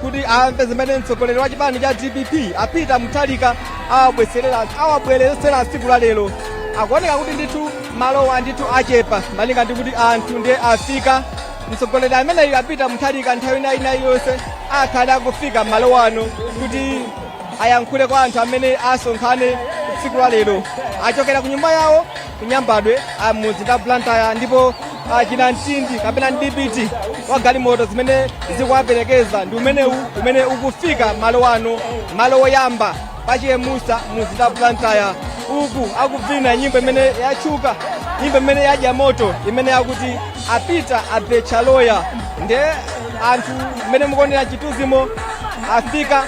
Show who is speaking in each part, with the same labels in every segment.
Speaker 1: kuti amve zimene mtsogoleri wa chipani cha dpp a peter mutharika awabweretsera tsiku la lero akuoneka kuti ndithu malowa ndithu achepa malinga ndi kuti anthu ndiye afika mtsogoleri ameneyu a peter mutharika nthawi ina iliyonse akhale akufika malo ano kuti ayankhule kwa anthu amene asonkhane tsiku la lero achokera ku nyumba yawo ku nyambadwe a mumzinda wa blantyre ndipo ah, chinamtindi kapena mdipiti wa galimoto zimene zikuwaperekeza ndi umenewu umene ukufika malo ano malo woyamba pa chemusa mumzinda wa blantyre uku akuvina nyimbo imene yatchuka nyimbo imene yadya moto imene yakuti a peter abetcha loya nde anthu mmene mukuonera mchithunzimo afika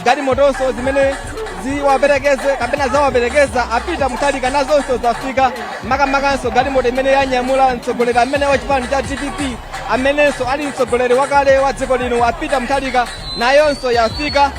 Speaker 1: galimotonso zimene ziwaperekeze kapena zawaperekeza a peter mutharika nazonso zafika makamakanso galimoto imene yanyamula mtsogoleri amene wa chipani cha dpp amenenso ali mtsogoleri wakale wa dziko lino a peter mutharika nayonso yafika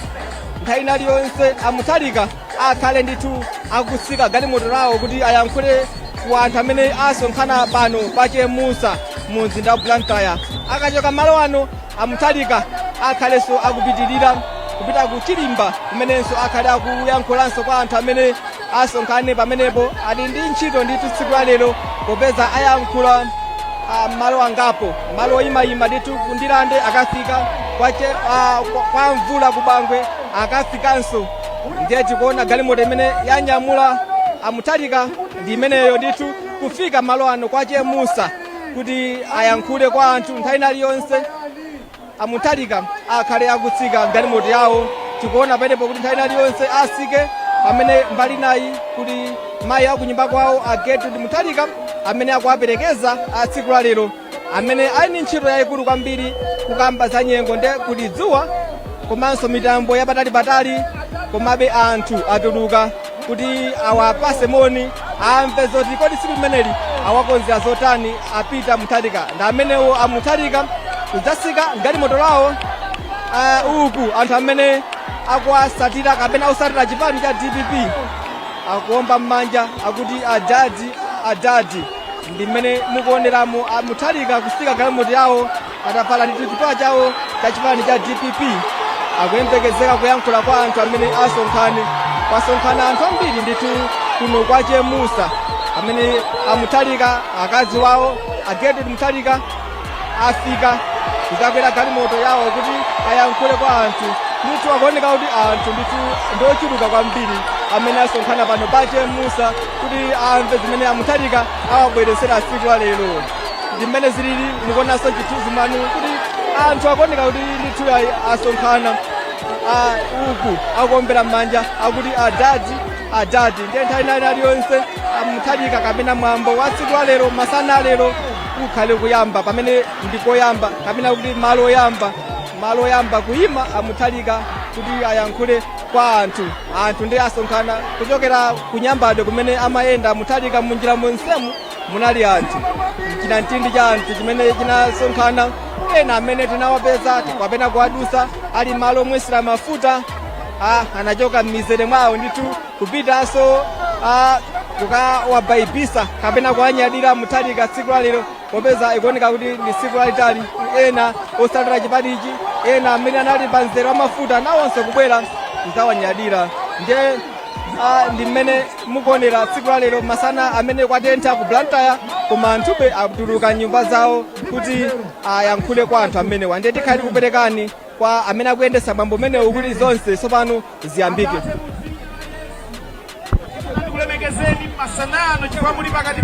Speaker 1: nthawi ina iliyonse a mutharika akhale ndithu akutsika galimoto lawo kuti ayankhule ku anthu amene asonkhana pano pa chemusa mu mzinda wa blantyre akachoka malo ano a Mutharika akhalenso akupitirira kupita ku Chirimba kumenenso akhale akuyankhulanso kwa anthu amene asonkhane pamenepo ali ndi ntchito ndithu tsiku la lero popeza ayankhula ah, malo angapo malo oyimayima ndithu ku Ndirande akafika kwa, che, ah, kwa, kwa mvula ku Bangwe akafikanso ndiye tikuona galimoto imene yanyamula a Mutharika ndi imeneyo ndithu kufika malo ano kwa chemusa kuti ayankhule kwa anthu nthawi ina iliyonse a mutharika akhale akutsika mgalimoto yawo tikuona pamenepo kuti nthawi ina iliyonse atsike pamene mbali inayi kuli mayi akunyumba kwawo a gertrude mutharika amene akuwaperekeza a tsiku la lero amene ali ndi ntchito yayikulu kwambiri kukamba za nyengo nde kuli dzuwa komanso mitambo yapatalipatali komabe anthu atuluka kuti awapase moni amve zoti kodi tsiku limeneli awakonzera zotani a peter mutharika ndi amenewo a mutharika kudzatsika mgalimoto lawo ah, uku anthu amene akuwasatira kapena akusatira chipani cha dpp akuomba mmanja akuti adadi adadi ndi mmene mukuoneramo a mutharika kutsika mgalimoto yawo atavala ndithu chipewa chawo cha chipani cha dpp akuyembekezeka kuyankhula kwa anthu amene asonkhane kwasonkhana anthu ambiri ndithu kuno kwa chemusa amene a mutharika akazi wawo a gertrude mutharika afika kuzakwera galimoto yawo kuti ayankhule kwa anthu ndithu akuoneka kuti anthu ndithu ndiochuluka kwambiri amene asonkhana pano pa chemusa kuti amve zimene a mutharika awabweretsera tsiku la lero ndi mmene zilili mukuonanso chithunzimanu kuti anthu akuoneka kuti ndithu ayi asonkhana ah, uku akuombera m'manja akuti adadi adadi ndiye nthawi ina iliyonse muthalika kapena mwambo wa tsiku la lero masana a lero ukhale kuyamba pamene ndikoyamba kapena kuti malo oyamba kuyima amuthalika kuti ayankhule kwa anthu ah anthu ndiye asonkhana kuchokera kunyambadwe kumene amayenda amuthalika munjira monsemu munali anthu chinamtindi cha anthu chimene chinasonkhana ena amene tinawapeza kapena kuwadusa ali malo omwesera mafuta ah, anachoka m'mizere mwawo ndithu kupitanso ah, kukawabaibisa kapena kuwanyadira muthalika tsiku lalero popeza ikuoneka kuti ndi tsiku lalitali ena otsatira chipanichi ena amene anali pa mzere wa mafuta nawonso kubwera kuzawanyadira ndiye ah, ndi mmene mukuonera tsiku la lero masana amene kwatentha ku blantyre koma anthube atuluka m'nyumba zawo kuti ayankhule kwa anthu amenewa ndiye tikhale tikuperekani kwa amene akuyendesa mwambo umenewu kuti zonse tsopano ziyambike ndikulemekezeni
Speaker 2: masanano chifukwa muli pakati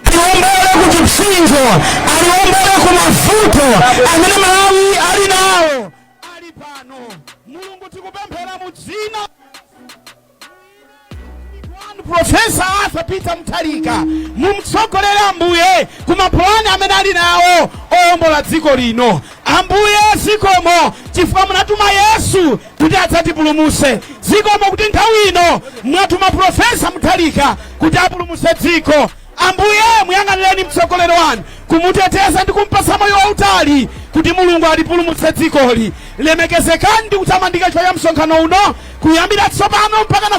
Speaker 3: aliwombere ku chipsinjo aliwombere ku mavuto amene malawi ali nawo ali pano mulungu tikupemphera mu dzina lanu profesa arthur peter mthalika mumtsogolere ambuye ku mapulani amene ali nawo owombola dziko lino ambuye zikomo chifukwa munatuma yesu kuti adzatipulumuse zikomo kuti nthawi ino mwatuma profesa muthalika kuti apulumuse dziko ambuye muyang'anireni mtsogoleri wanu kumuteteza ndi kumpasa moyo wautali kuti mulungu alipulumutse dzikoli lemekezekani ndi kutamandika chifukwa cha msonkhano uno kuyambira tsopano mpaka na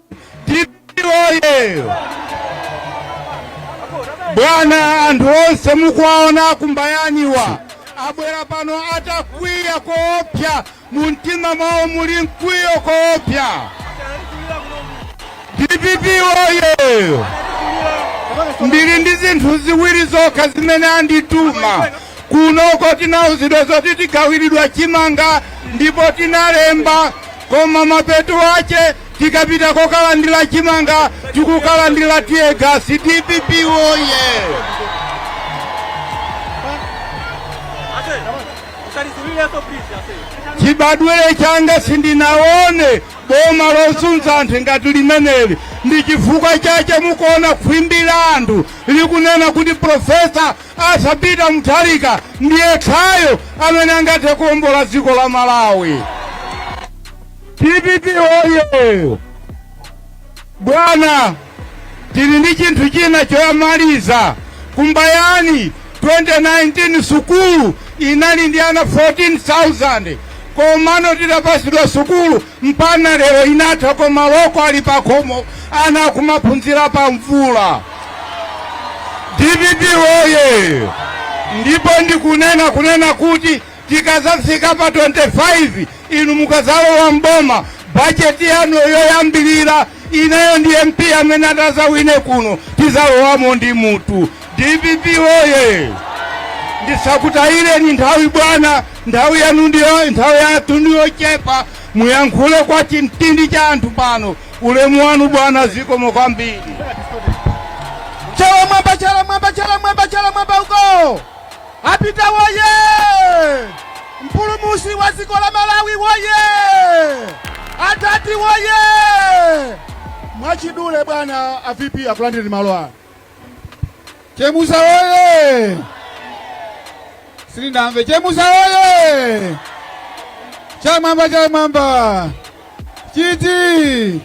Speaker 3: dpp oye bwana anthu onse mukuwaona akumbayaniwa abwera pano atakwiya koopsa mu mtima mwawo muli mkwiyo koopsa dpp oye ndili ndi zinthu ziwiri zokha zimene andituma kunoko tinauzidwa zoti tigawiridwa chimanga ndipo tinalemba koma mapeto ache tikapita kokalandira chimanga tikukalandira tiyegasi dpp woye chibadwire changa sindinaone boma losunza anthu ngati limeneli ndi chifukwa chache mukuona khwimbi la anthu likunena kuti profesa arthur peter mutharika ndiye khayo amene angathe kuombola dziko la malawi dpp oye bwana tili ndi chinthu china choyamaliza kumbayani 2019 sukulu inali ndi ana 14000 komano tidapasidwa sukulu mpana lero inatha koma loko ali pakhomo ana akumaphunzira pa mvula dpp oye ndipo ndikunena kunena kuti Tikazafika pa 25 inu mukazalowa mboma bajeti yanu yoyambilira ineyo ndi MP amene atazawine kuno tizalowamo ndi mutu dpp oye ndisakutayireni nthawi bwana nthawi yanu ndiyo nthawi yathu ndiyochepa muyankhule kwa chimtindi cha anthu pano ulemu wanu bwana zikomo kwambiri
Speaker 1: Chala mwamba, chala mwamba, chala mwamba, chala mwamba uko. Apita woyee! Mpulumushi wa dziko la Malawi woyee! Adadi woyee! Mwachidule bwana a VP akulandirani malo ano. Chemusa woyee! Sindinamve Chemusa woyee! Chala mwamba chala mwamba! Chiti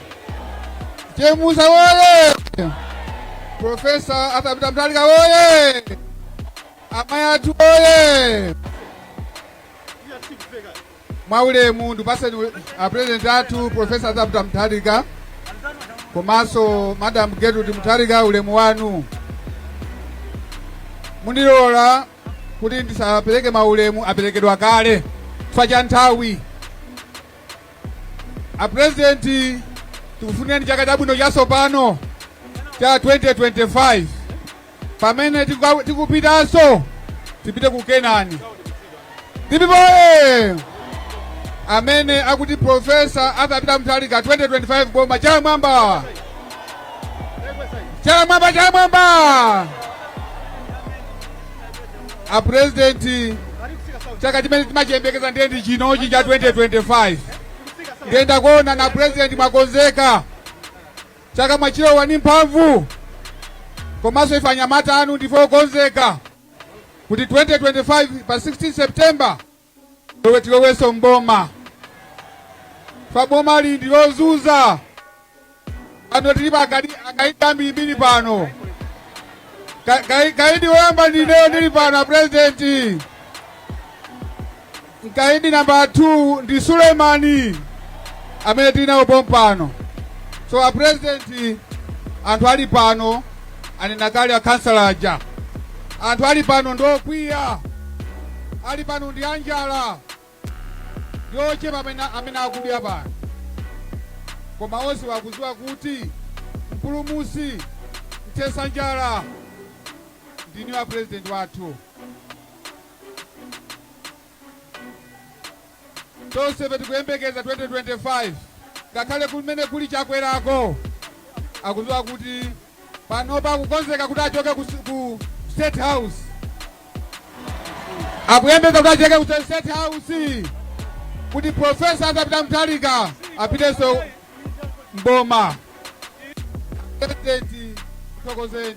Speaker 1: Chemusa woye! Profesa Arthur Peter Mutharika woye! Amayi athu woye! Mwaulemu ndipaseni ule- a president athu Profesa Arthur Peter Mutharika komanso Madam Gertrude Mutharika ulemu wanu. Mundilola kuti ndisapereke maulemu aperekedwa kale chifukwa cha nthawi. A President tikufunirani chaka chabwino chatsopano cha 2025 pamene tikuka- tikupitanso tipite ku Kanani DPP oye amene akuti profesa Arthur Peter Mutharika 2025 boma chala mwamba chala mwamba chala mwamba
Speaker 3: a president chaka chimene timachiyembekeza ndiye ndi chinochi cha 2025 ndiye ndakuona na president mwakonzeka chaka mwachilowa ni mphamvu komanso ife anyamata anu ndife okonzeka kuti 2025 pa 16 september Iwe tiloweso mboma fwa boma ili ndi lozunza pano tilipo akaidi akaidi ambirimbiri pano Ka- kai- kaidi woyamba ndineyo ndili pano apurezidenti kaidi namba 2 ndi suleimani amene tili nawo pompano so apurezidenti anthu ali pano anena kale akhansala aja anthu ali pano ndi okwiya ali pano ndi anjala ndi ochepa amene, amene akudya pano koma onse wakuziwa kuti mpulumusi mthesa njala ndinu apurezidenti wathu Tonsefe tikuyembekeza 2025 ngakhale kumene kuli chakwerako akuziwa kuti panopa akukonzeka kuti achoke ku, ku state house akuyembekeza kuti achoke ku state house kuti profesa Arthur Peter Mutharika apitenso mboma president thokozeni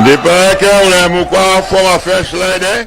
Speaker 4: Ndipeleke ulemu kwa former first lady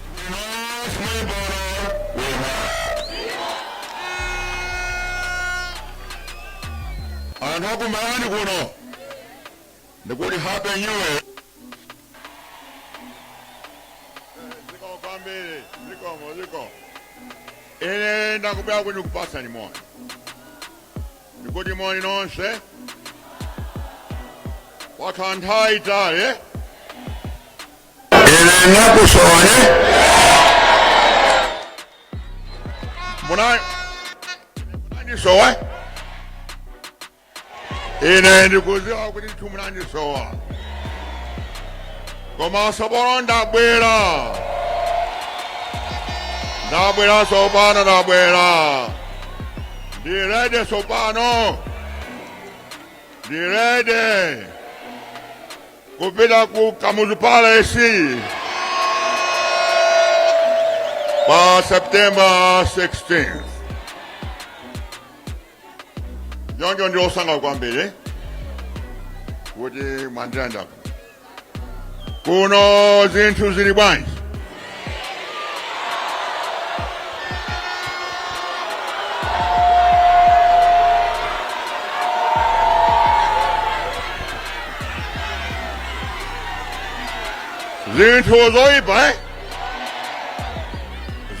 Speaker 4: anthu akumalawi kuno ndikuti happy new year zikomo kwambiri zikomo zikomo ine ndakubwera kuti ndikupatseni moni ndikuti moni nonse yakhala nthawi itali Ine ndakusowani. Munandisowa ine ndikuziwa kuti inu munandisowa koma tsopano ndabwera ndabwera tsopano ndabwera ndirede tsopano ndirede kupita ku Kamuzu Palace pa September 16. Choncho ndi osangalala kwambiri kuti mwandilandira kuno zinthu zili bwanji zinthu zoyipa eh?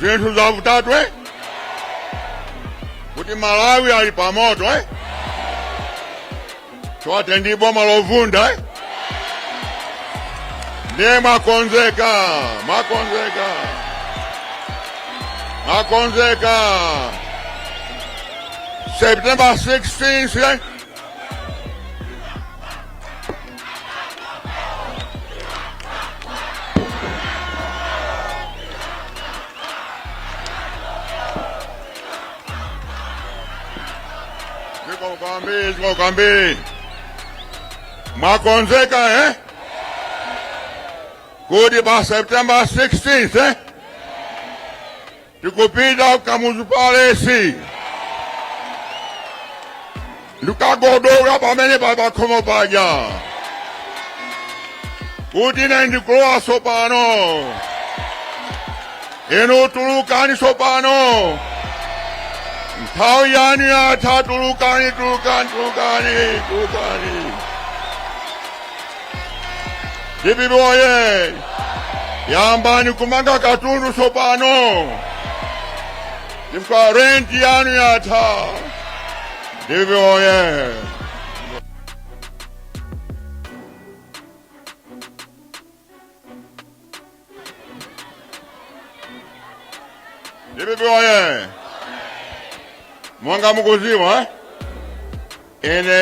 Speaker 4: zinthu zavutatu eh? kuti malawi ali pamoto eh? chote ndi boma lovunda eh? ndiye mwakonzeka mwakonzeka mwakonzeka september 16 eh? Zikomo kwambiri, zikomo kwambiri. Mwakonzeka eh? Kuti pa September 16th eh? Tikupita ku Kamuzu Palace. ndikagogoda pamene papakhomo paja kuti ine ndikulowa sopano inu tulukani sopano nthawi yanu yatha tulukani tulukani tulukani tulukani dpp oye yambani kumanga katundu sopano chifukwa renti yanu yatha dpp oye dpp oye monga mukuziwa ine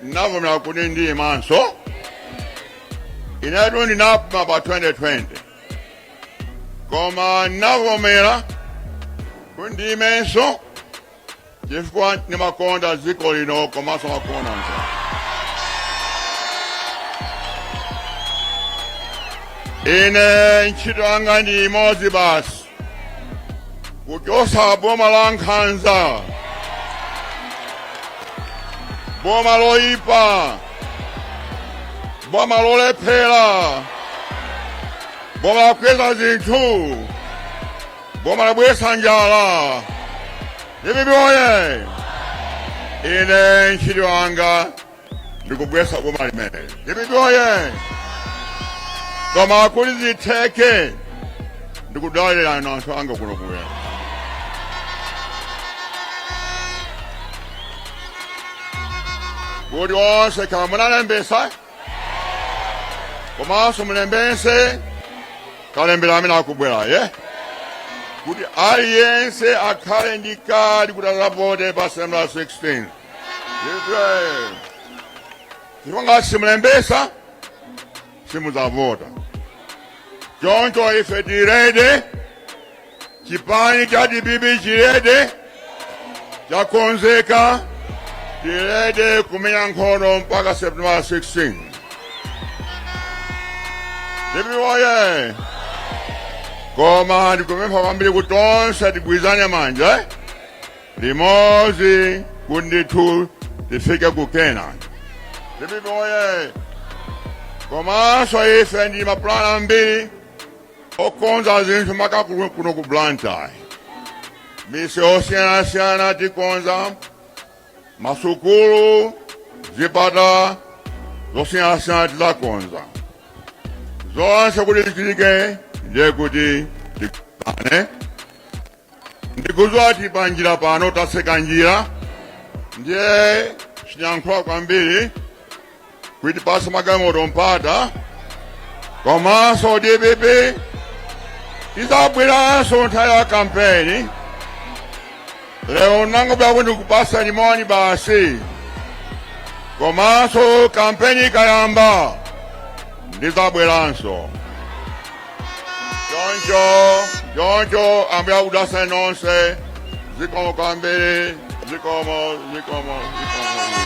Speaker 4: ndinavomera kuti ndiyimenso inetu ndinapuma pa 2020 koma ndinavomera kuti ndiyimenso chifukwa ndimakonda dziko lino komanso ndimakonda anthu ine ntchito yanga ndi imodzi basi kuchosa boma la nkhanza boma loyipa boma lolephera boma lakweza zinthu boma labweresa njala dpp oye ine ntchito yanga ndikugwetsa boma limeneli dpp oye koma kuti zitheke ndikudalirana anthu anga kuno kuwera kuti onse kaya munalembesa komanso mulembese kalembera amene akubwerayu kuti aliyense akhale ndi kadi kuti akavote pa september 16 chifukwa ngati simulembesa simudzavota choncho ife tili ready chipani cha dpp chili ready chakonzeka tili ready kumenya nkhondo mpaka september 16 dpp woye koma ndikupempha kwambiri kuti tonse tigwirizane manja Limodzi kuti ndithu tifike ku Kenani. Dpp woye! Komanso ife ndi mapulani ambiri okonza zinthu makamaka kuno ku Blantyre. Miseu osiyanasiyana tikonza masukulu, zipatala zosiyanasiyana tizakonza. Zonse kuti zichitike ndiye kuti tikane. ndikudziwa kuti panjira pano taseka njira ndiye sindiyankhula kwambiri kuti tipatse magalimoto mpata komanso dpp ndizabweranso nthawi ya kampeni lero nangobwera kuti ndikupatseni moni basi komanso kampeni ikayamba ndizabweranso choncho ambuye akudalitseni nonse zikomo kwambiri zikomo zikomo zikomo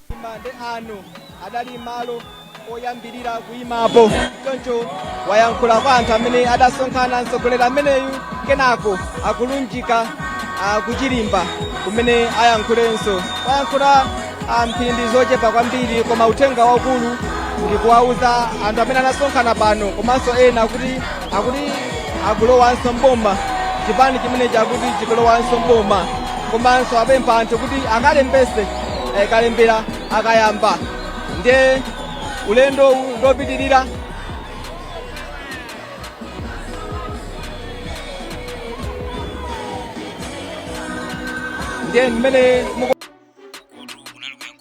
Speaker 1: ndi ano adali malo oyambirira kuyimapo choncho wayankhula kwa anthu amene adasonkhana mtsogoleri ameneyu kenako akulunjika ah, ku Chirimba kumene ayankhulenso wayankhula ah, mphindi zochepa kwambiri koma uthenga waukulu ndi kuwauza anthu amene anasonkhana pano komanso ena kuti akuti akulowanso mboma chipani chimene chakuti chikulowanso mboma komanso apempha anthu kuti akalembese eh, kalembera akayamba ndiye ulendo uwu ndi wopitirira ndiye mmene muku